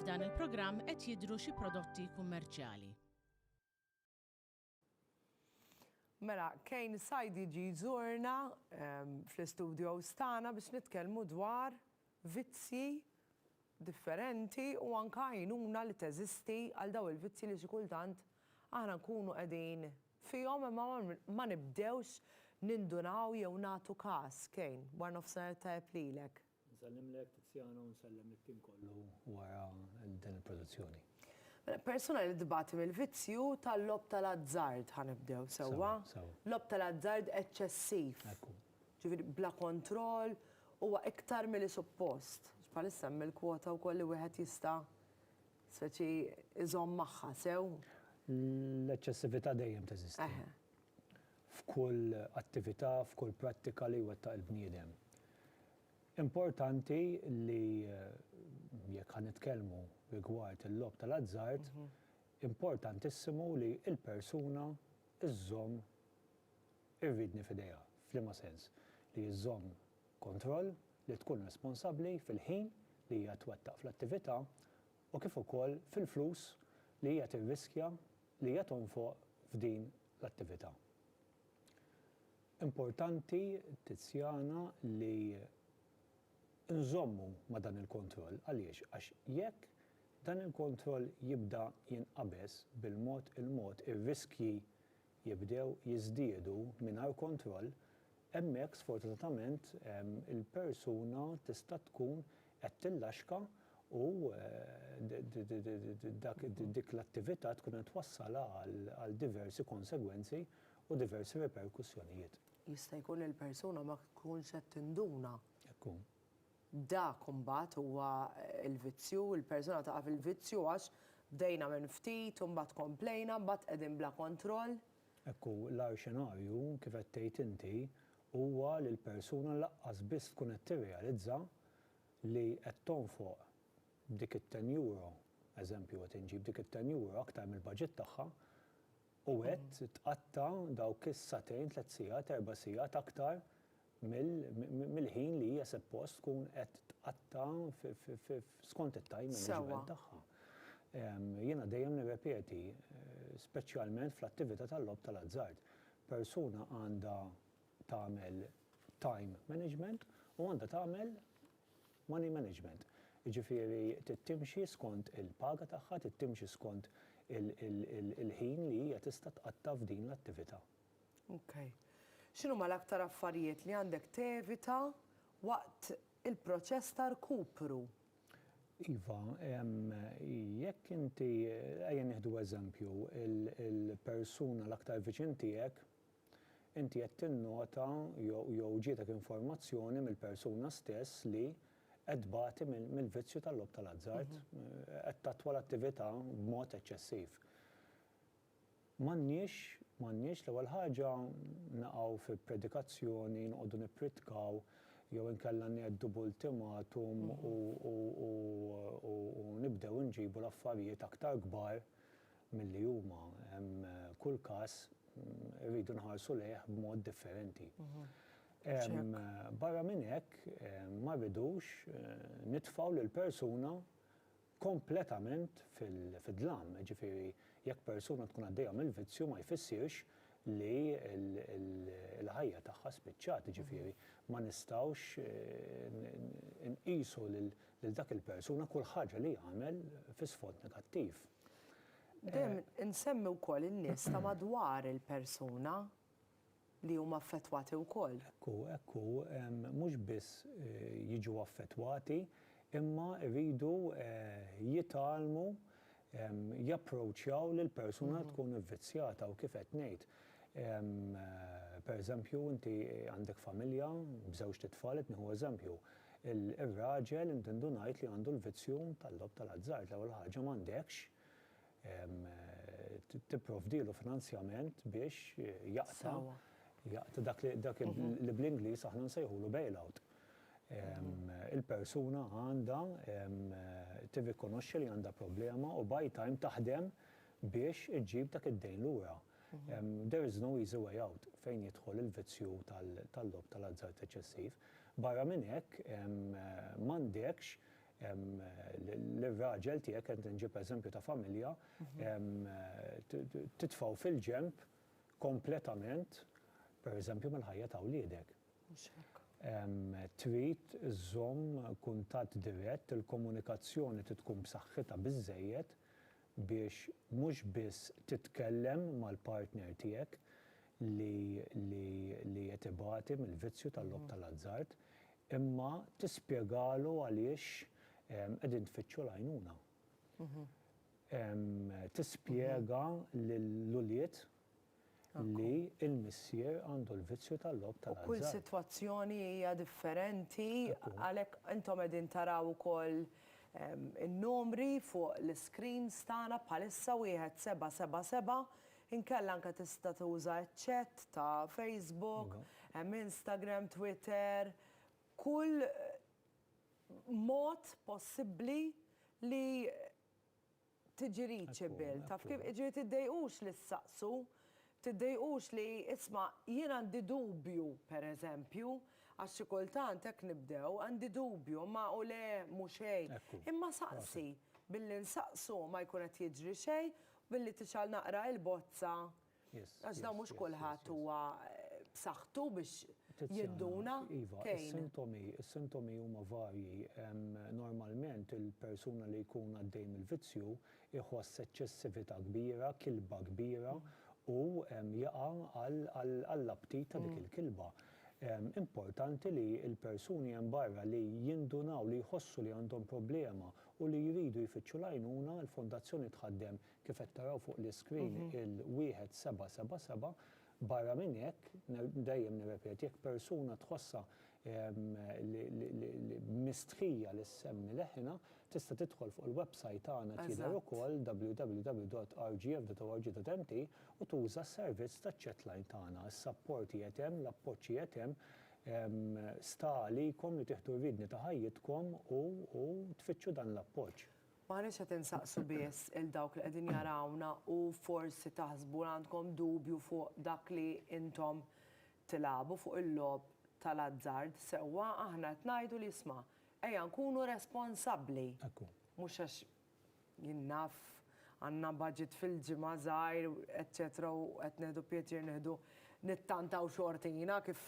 F'dan il-programm qed jidhru xi prodotti kummerċjali. Mela, Kane Said jiġi jżurna fl-istudios tagħna biex nitkellmu dwar vizzji differenti u anke għajnuna li teżisti għal dawn il-vizzji li xi kultant aħna nkunu qegħdin fihom imma ma nibdewx nindunaw jew nagħtu każ. Kane, wara nofsinhar it-tajjeb lilek. Nsellimlek Tiziano u nsellem lit-tim kollu wara din il-produzzjoni. Mela, persuna li tbati mill-vizzju tal-logħob tal-azzard, ħa nibdew sewwa, logħob tal-azzard eċċessiv. Ekku. Ġifieri bla kontroll huwa iktar milli suppost. Bħalissa hemm il-kwota wkoll li wieħed jista' speċi iżomm magħha sew. L-eċċessività dejjem teżisti. F'kull attività, f'kull prattika li jwettaq il-bniedem. Importanti li jekk ħa nitkellmu rigward il-logħob tal-azzard, importantissimu li l-persuna żżomm Irridni f'idejha f'liema sens? Li żżomm kontroll, li tkun responsabbli fil-ħin li hija twettaq fl-attività u kif ukoll fil-flus li hija tirriskja li hija tonfoq f'din l-attività. Importanti, Tiziana, li nżommu ma' dan il-kontroll. Għaliex? Għax jekk dan il-kontroll jibda jinqabeż bil-mod il-mod ir-riskji jibdew jiżdiedu mingħajr kontroll, hemmhekk sfortunatament il-persuna tista' tkun qed tillaxka u dik l-attività tkun qed twassalha għal diversi konsegwenzi u diversi riperkussjonijiet. Jista' jkun li l-persuna ma tkunx qed tinduna. Hekk hu. Dak imbagħad huwa l-vizzju, il-persuna taqa' fil-vizzju għax bdejna minn ftit u mbagħad komplejna, mbagħad qegħdin bla kontroll. Hekk hu, l-agħar xenarju, kif qed tgħid inti, huwa li l-persuna lanqas biss tkun qed tirrealizza li qed tonfoq dik it-ten euro, eżempju qed inġib, dik it-ten euro aktar mill-baġit tagħha, U qed tqatta' dawk is-sagħtejn, tliet sigħat, erba' sigħat aktar mill-ħin li hija seppost tkun qed tqatta' skont it-time management tagħha. Jiena dejjem nirrepeti, speċjalment fl-attività tal-logħob tal-azzard, persuna għandha tagħmel time management u għandha tagħmel Money management, jiġifieri trid timxi skont il-paga tagħha, trid timxi skont il-ħin li hija tista' tqatta' f'din l-attività. Ok. X'inhuma l-aktar affarijiet li għandek tevita waqt il-proċess ta' rkupru? Iva, jekk inti, ejja nieħdu eżempju, il-persuna l-aktar viċin tiegħek Inti qed tinnota jew ġietek informazzjoni mill-persuna stess li qed tbati mill-vizzju tal-logħob tal-azzard, qed tattwa l-attività b'mod eċċessiv. M'għandniex, m'għandniex l-ewwel ħaġa naqgħu fi predikazzjoni, noqogħdu nippritkaw jew inkella ngħeddu b'ultimatum u nibdew inġibu l-affarijiet aktar kbar, milli huma, kull każ irridu nħarsu lejh b'mod differenti. Barra minn hekk, ma rridux nitfgħu lil persuna kompletament fid-dlam, jiġifieri jekk persuna tkun għaddejja mill-vizzju ma jfissirx li l-ħajja tagħha spiċċat, jiġifieri ma nistgħux inqisu lil dak il-persuna kull ħaġa li jagħmel fi sfond negattiv. Dejjem insemmi wkoll in-nies ta' madwar il-persuna li huma affettwati wkoll. Hekk hu, hekk hu. Mhux biss jiġu affettwati imma jridu jitgħallmu japproċċjaw lill-persuna li tkun ivvizzjata u kif qed ngħid, pereżempju inti għandek familja b'żewġt itfal, qed nieħu eżempju, Ir-raġel intendu ngħid li għandu l-vizzju tal-logħob tal-azzard. L-ewwel ħaġa m'għandekx tipprovdilu finanzjament biex jaqta' jaqta' dak li dak li bl-Ingliż aħna nsejħulu bail out. Il-persuna għandha tirrikonoxxi li għandha problema u buy time taħdem biex iġġib dak id-dejn lura. There is no easy way out fejn jidħol il-vizzju tal-logħob tal-azzard eċċessiv. Barra minn hekk, m'għandekx lir-raġel tiegħek, qed inġib eżempju ta' familja, titfgħu fil-ġenb kompletament, per eżempju, mill-ħajja ta' wliedek. Trid iżżomm kuntatt dirett, il-komunikazzjoni trid tkun b'saħħitha biżżejjed biex mhux biss titkellem mal-partner tiegħek li qed ibati mill-vizzju tal-logħob tal-azzard, imma tispjegalu għaliex qegħdin tfittxu l-għajnuna. Tispjega lill-ulied li l-missier għandu l-vizzju tal-logħob tal-azzard. U kull sitwazzjoni hija differenti, għalhekk intom qegħdin taraw ukoll in-numri fuq l-iscreens tagħna bħalissa wieħed seba' seba' seba', inkella anke tista' tuża ċ-chat ta' Facebook, hemm Instagram, Twitter, kull mod possibbli li tiġrix bil. Taf kif? Jiġifieri tiddejqux li ssaqsu, tiddejqux li, isma' jien għandi dubju, pereżempju, għax xi kultant hekk nibdew, għandi dubju, imma u le mhu xejn. Imma saqsi. Billi nsaqsu ma jkun qed jiġri xejn, billi tixgħal naqra il-bozza Għax dawn mhux kulħadd huwa b'saħħtu biex jinduna. Iva, is-sintomi, is-sintomi huma varji. Normalment il-persuna li jkun għaddej mill-vizzju jħoss eċċessività kbira, kilba kbira u jaqa' għall-aptit ta' dik il-kilba. Importanti li l-persuni hemm barra li jindunaw li jħossu li għandhom problema u li jridu jfittxu l-għajnuna, il-Fondazzjoni tħaddem kif qed taraw fuq l-iscreen, il-1777, barra minn hekk, dejjem nirrepeti, jekk persuna tħossha mistħija li ssemmi leħinha, tista' tidħol fuq il-websajt tagħna qed jidher ukoll, www.rgf.org.mt, u tuża s-servizz taċ-chatline tagħna. Is-sapport qiegħed hemm, l-appoġġ qiegħed hemm, sta għalikom li tieħdu r-riedni ta' ħajjitkom u tfittxu dan l-appoġġ. M'aħniex qed insaqsu biss 'il dawk li qegħdin jarawna u forsi taħsbu li għandkom dubju fuq dak li intom tilagħbu, fuq il-logħob tal-azzard, sewwa, aħna qed ngħidu li isma', ejja nkunu responsabbli. Ekku. Mhux għax jien naf għandna budget fil-ġimgħa żgħir, eċċetera u qed nieħdu pjaċir nieħdu nittantaw xortina kif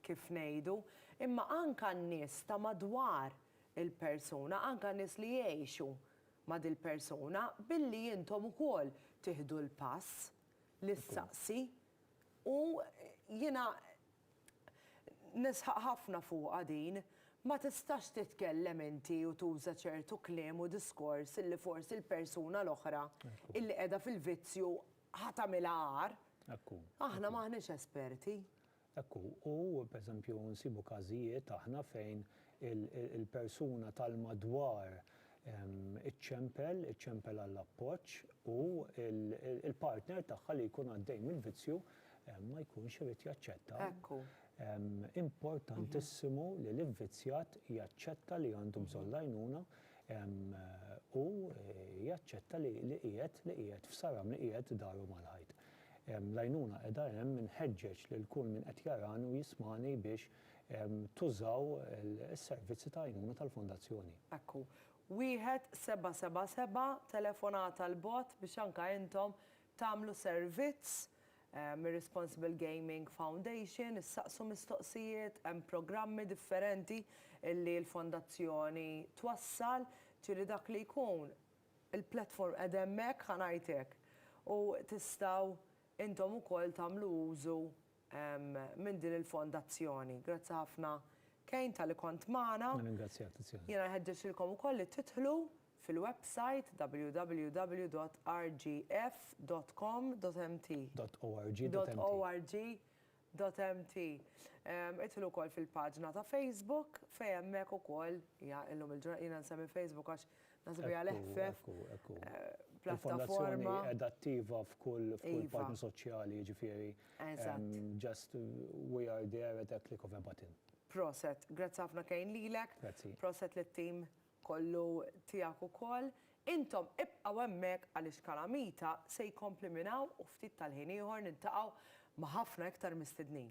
kif ngħidu, imma anke n-nies ta' madwar il-persuna, anke nies li jgħixu ma' dil-persuna, billi intom ukoll tieħdu l-pass li ssaqsi. U jiena nisħaq ħafna fuqha din, ma tistax titkellem inti u tuża ċertu kliem u diskors illi forsi l-persuna l-oħra illi qiegħda fil-vizzju ħa tagħmilha agħar. Aħna m'aħniex esperti. Hekk hu. U, pereżempju, nsibu każijiet aħna fejn il-persuna tal-madwar iċċempel, iċċempel għall-appoġġ u l-partner tagħha li jkun għaddej mill-vizzju ma jkunx irid jaċċetta. Hekk hu. Importantissimu li l-ivvizzjat jaċċetta li għandu bżonn l-għajnuna u jaċċetta li qiegħed, li qiegħed f'saram, li qiegħed daru mal-ħajt. L-għajnuna qiegħda hemm, inħeġġeġ lil kull min qed jarani u jismagħni biex tużaw is-servizzi ta' għajnuna tal-Fondazzjoni. Hekk hu. Wieħed seba' seba' seba' telefonata 'l bogħod biex anke intom tagħmlu servizz mir-Responsible Gaming Foundation, issaqsu mistoqsijiet, hemm programmi differenti li l-Fondazzjoni twassal, ġieli dak li jkun Il-platform qiegħda hemmhekk ħa ngħid hekk. U tistgħu intom ukoll tagħmlu użu minn din il-fondazzjoni. Grazzi ħafna Kane talli kont magħna. Nirringrazzjak Tiziana. Jiena nħeġġeġ lilkom ukoll li tidħlu fil-websajt www.rgf.com.mt. .org.mt. .org. DotMT. Idħlu wkoll fil-paġna ta' Facebook fejn hemmhekk ukoll hija illum il-ġurnata, jiena nsemmi Facebook għax naħseb hija l-eħfef pjattaforma. Qiegħda attiva f'kull paġna soċjali, jiġifieri just we are there at a click of a button. Proset, grazzi ħafna Kane lilek. Grazzi. Proset lit-tim kollu tiegħek ukoll, intom ibqgħu hemmhekk għaliex Kalamita se jkompli minn hawn u ftit tal-ħin ieħor niltaqgħu ma' ħafna iktar mistednin.